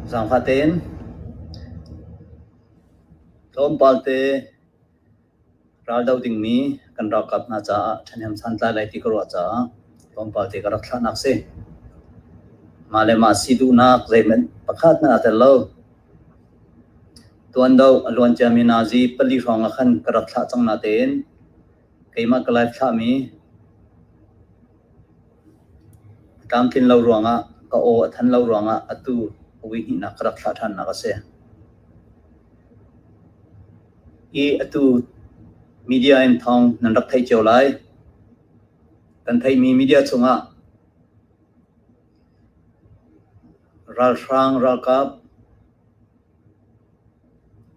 Zaangfah tein ka um pal te. Ral doh dingmi kan ralkap hna caah ṭhahnem santlai lai ti ka ruah caah tlawmpal te ka rak thlahnak si. Mah le mah si duhnak zeihmanh pakhatnak a tel lo. Tuando a luan ciami Nazi pali hrawng ah khan ka rak thlah cang natein keimah ka live thlahmi a tlamtlin lo ruangah ka aw a than lo ruangah atu a vui hnihnak ka rak thlah ṭhannak a si. i atu media in thawng nan rak theih cio lai. Kan theihmi media chungah ralhrang ralkap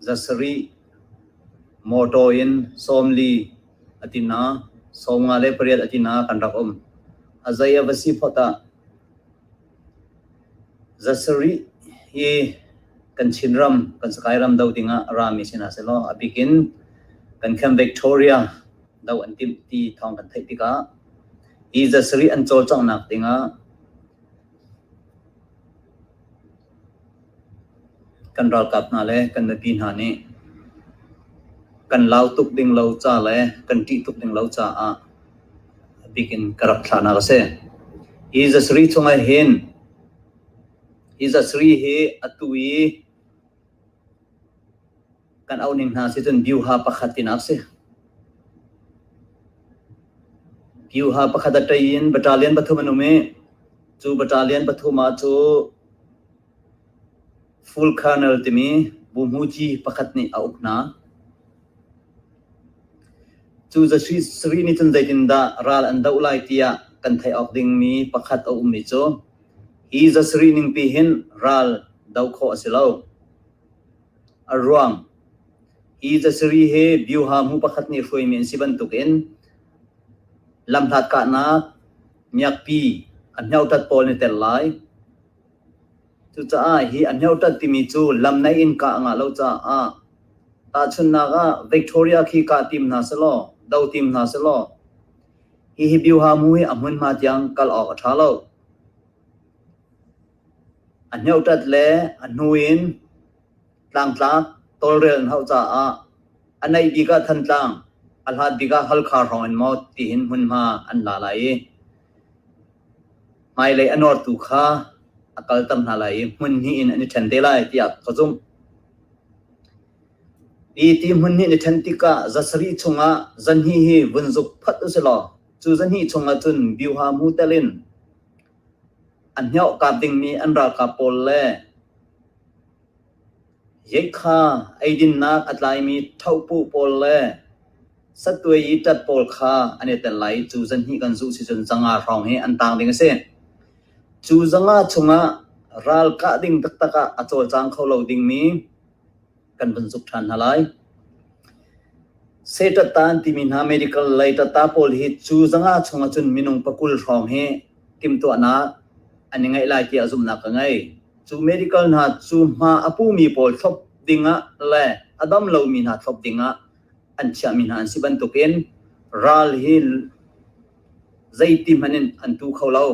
zasari motor in sawmli atina sawmnga le pariat atina kan rak um. A zei a va si phot ah Zasarih hi kan Chinram, kan Sagaing ram doh dingah rami sinah si law a bikin kan Camp Victoria doh an timh ti thawng kan theih tikah hi zasarih an cawlcanghnak dingah Kan ralkap hna le kan mipi hna nih kan lau tuk ding lo ca le kan ṭih tuk ding lo caah a bik in ka rak thlahnak a si. Hi zasari chungah hin hi zasari hi atu i kan auh ning hna si cun Byuha pakhat tinak si. Byuha pakhat a tei in bata lian pathum an um i cu bata lian pathum ah cu full kernel timi buhmuji pakhat nih a uk hna. Cu zasri sri nih cun zeitindah ral an doh lai tiah kan theih awk dingmi pakhat a ummi cu hi zasri ning pi hin ral do khawh a si lo. a ruang hi zasiri he bioha hmu pakhat nih hruaimi an si bantukin lamhlat kahnak miakpi a hneutat pawl nih tel lai cucaah hi a hneutat timi cu lam nei in kah nga lo caah tahchunnak ah Victoria khi kah tim hna selaw do tim hna selaw hihi bioha mu hi a hmunhma tiang kal awk a ṭha lo A hneutat le a hnu in tlangtlak tawlrel an hauh caah a neih bik ah Thantlang a hlat bik ah Halkha hrawng in maw tihin hmunhma an la lai i hmailei a nortu kha a kalter hna lai i hmun hnih in an i ṭhen te lai tiah ka zumh. Hi ti hmun hnih ni ṭhen tikah zasarih chungah zanhi hi vun zuk phat u si law cu zanhi chungah cun biuha mu telin A hniauhka dingmi an ralkap pawl le yeikha eidinnak a tlaimi thopu pawl le sattuai i ṭat pawl kha an i tel lai i cu zanhnih kan zuh si cun zanga hrawng hi an taang ding a si. Cu zanga chungah ral kah ding taktak ah a cawlcang kho lo dingmi kan van zuk ṭhan hna lai. Setataan timi hna medical lei tata pawl hi cu zanga chung ahcun minung pakul hrawng hi timtuahnak an i ngeih lai tiah zumhnak ka ngei. Cu medical hna cu hma a pumi pawl thlop dingah le a dam lomi hna thlop dingah an chiahmi hna an si bantukin ral hi zeiti hmanh in an tu kho lo.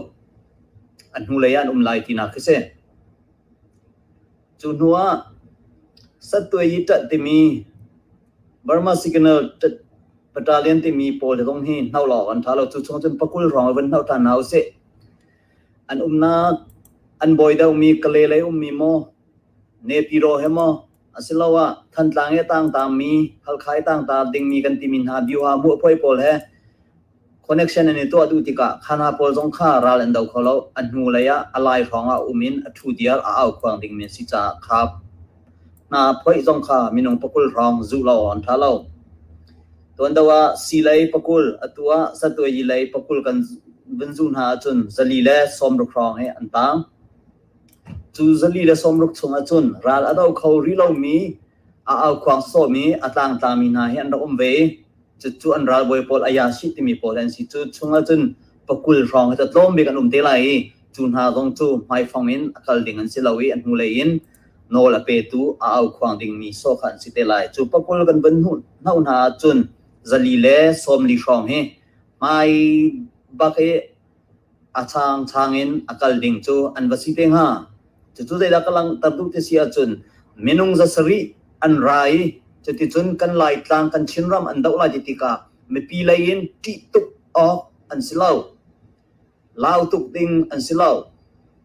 An hnulei an um lai tinak khi si. Cu hnu ah sattuai i ṭat timi Burma Signal Battalion timi pawl he kong hi hno lawng an ṭha lo. Cu chung cun pakul hrawng a vun hno ṭhan hna u sih. An umnak an bawi deuhmi Kale lei ummi maw Nepiro he maw asiloah Thantlang i tangtaangmi Halkhai tangtaar dingmi kan timi hna Bioha mu apoi pawl he connection an i tuah duh tikah kha hna pawl zong kha ral an do kho lo a hnu lei ah a lai hrawng ah um in a thu diar a au khuang ding min si caah kha hna phoih zong kha minung pakul hrawng zu lo on tha lo tuan do ah si lei pakul atua satwe yi lei pakul kan vun zu hna cun zali le somruk hrawng he an tang cu zali le somruk chung ahcun ral a do kho ri lo mi a aukhuang sawm i a tlangtlangmi hna hi an rak um ve i cucu an ralbawi pawl ayasi timi pawl an si cu chungah cun pakul hrawng cu tlawm bik an um te lai i cu hna zong cu hmaifang in a kal ding an si lo i an hnulei in nawl a petu a aukhuang dingmi saw kha an si te lai cu pakul kan van hno hna ahcun zali le sawmli hrawng hi hmai bak i a changchang in a kal ding cu an va si te hnga. Cucu zeidah ka langhter duh ti si ahcun minung za sarih an ra i cuticun kan laitlang kan Chinram an doh lai ti tikah mipi lei in ṭih tuk awk an si lo. Lau tuk ding an si lo.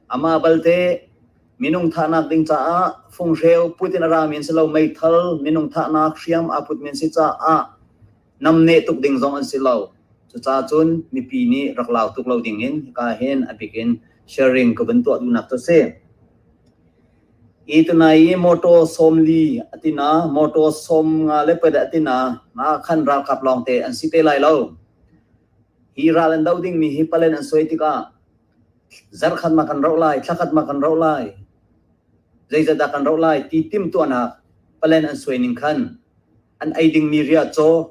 Amah balte minung thahnak ding caah funghreu Putin a rami an si lo. Meithal minung thahnak hriam aa put men si caah nam neh tuk ding zong an si lo. Cucaah cun mipi nih rak lau tuk lo ding in hika hin a bik in sharing ka van tuah duhnak cu si. Itunai i motor somli atina motor som nga le peda atina ma khan ralkap lawngte an si te lai lo. Hi ral an do ding mi hi palen an soi tikah zarkhatmah kan roh lai, thlakhatmah kan roh lai, zeizadah kan roh lai ti timtuahnak palen an suai ning khan an ei dingmi ria caw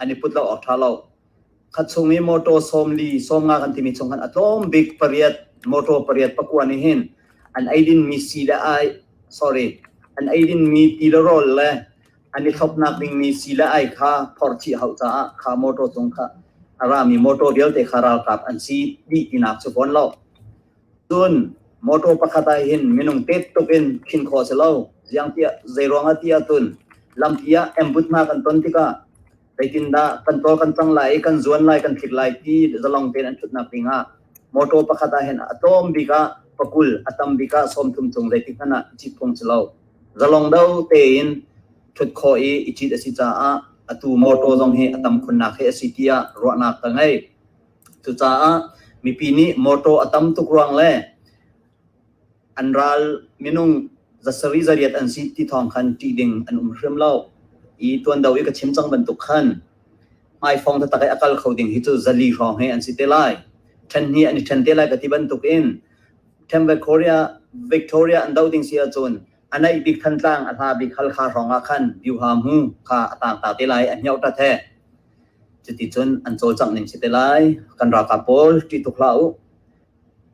an i put lo awk tha lo khat chung i motor som li som nga kan timi chung khan atlawm bik pariat motor pariat pakua ni hin an ei din mi si le ai sorry an ei din mi ti le rol le an i thlopnak dingmi sii le ai kha phorchih hau caah kha motor cung kha a rami motor vialte kha ralkap an si dih tinak cu fawn lo cun motor pakhat ah hin minung tet tuk in khin kho si lo ziang tiah zei ruang ah tiah tun lampi ah embutna kan ton tikah zeitindah kan tol kan cang lai i kan zuan lai kan thit lai ti zalong tein an thutnak ding ah motor pakhat ah hin a tlawm bik ah pakul a tam bik ah sawm thum cung zeitik hmanh ah cit phung si lo zalong do tein thut kho i i cit a si caah atu motor zong hi a tam khunnak he a si tiah ruahnak ka ngei cucaah mipi nih motor a tam tuk ruang le an ral minung za sari za riat an si ti thawng khan ṭih ding an um hrim lo i tuan do i ka chim cang bantuk khan hmaifong thatak i a kal kho ding hi cu zali hrawng he an si te lai ṭhen hi an i ṭhen te lai ka ti bantuk in Tempe Korea Victoria an do ding si ahcun a naih bik thantlang a hla bik hal kha hrawng ah khan biu ha mu kha a tang ta te lai an hnyau ta the cuti cun an cawlcang ning si te lai kan ralkap pawl ṭi tuk hla u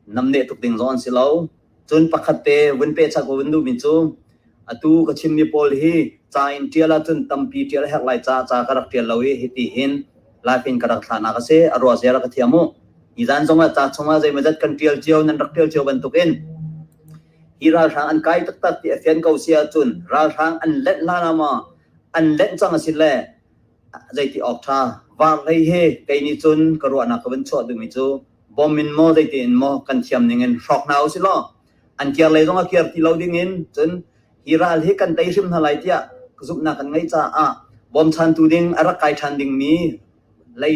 nam neh tuk ding zawn si lo cun pakhat te vun pe chak vun du min cu atu ka chim mi pawl hi ca in tial a cun tampi tial hek lai ca ca ka rak tial lo hi hi ti hin lai pin ka rak thlana ka se arwa zera ka thiamu izan zong a ca chunga zei mazat kan tial cio nan rak tial cio bantukin hi ralhrang an kai tak tak ti a fian ko sia cun ralhrang an let la na ma an let chang a sin le zeiti awk ṭha. Vaar hlei hi kei nih cun ka ruahnak ka van chuah dingmi cu bawm in maw zeiti in maw kan thiam ning in hrawk hna u si law an kir lei zong a kir ti lo ding in cun hi ral hi kan tei hrim hna lai tiah zumhnak kan ngeih caah bawmchantu ding a rak kai ṭhan dingmi lei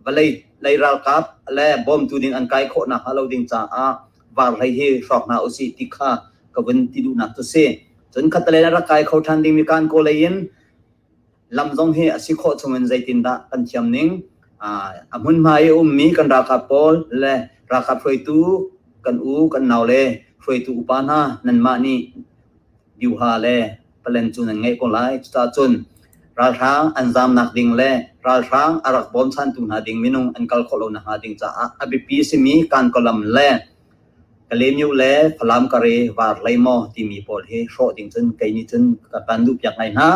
vawlei lei ralkap le bawmtu ding an kai khawh nakhnga lo ding caah vaar hlei hi hrawk hna u si ti kha ka vun ti duhnak cu si. Cun khatalei a rak kai kho ṭhan dingmi kan kaw lei in lam zong hi a si khawh chungin zeitindah kan thiam ning a hmunhma i ummi kan ralkap pawl le ralkap hruaitu kan u kan nau le hruaitu upa hna nanmah nih biuha le palen cu nan ngeih ko lai cucahcun ralhrang an zamnak ding le ralhrang a rak bawmchantu hna ding minung an kal khawh lo nakhnga ding caah a biapi a simi kan kolam le Ka lemyu le Falam ka re var hlei maw timi pawl hi hrawh ding cun kei nih cun ka kan duhpiak ngai hna.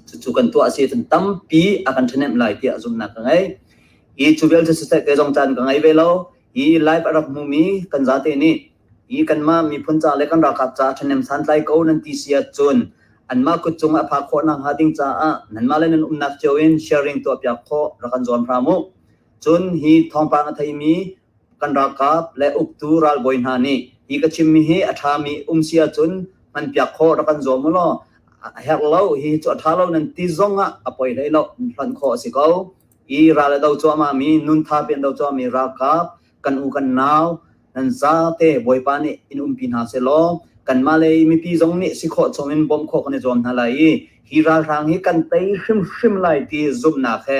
Cucu kan tuah a si cun tampi a kan ṭhahnemh lai tiah zumhnak ka ngei. Hi cu vialte cu seh kei zong caan ka ngei ve lo. Hi live a rak hmumi kan zate nih hi kanmah miphun ca le kan ralkap ca ṭhahnem santlai ko nan ti si ahcun anmah kut cung a phak khawh nakhnga ding caah nanmah le nan umnak cio in sharing tuahpiak khawh rak kan zuam hram u. Cun hi thawngpang a theimi kan ralkap le uktu ralbawi hna nih hi ka chimmi hi a ṭhami um si ahcun hmanpiak khawh rak kan zuam u law a herh lo hi cu a ṭha lo nan ti zong ah a poi hlei lo hlan khawh a si ko i ral a do cuahmahmi nuntha pe do cuahmi ralkap kan u kan nau nan zate bawipa nih in umpi hna se law kanmah lei mipi zong nih si khawh chung in bawm khawh kan i zuam hna lai i hi ralhrang hi kan tei hrimhrim lai ti zumhnak he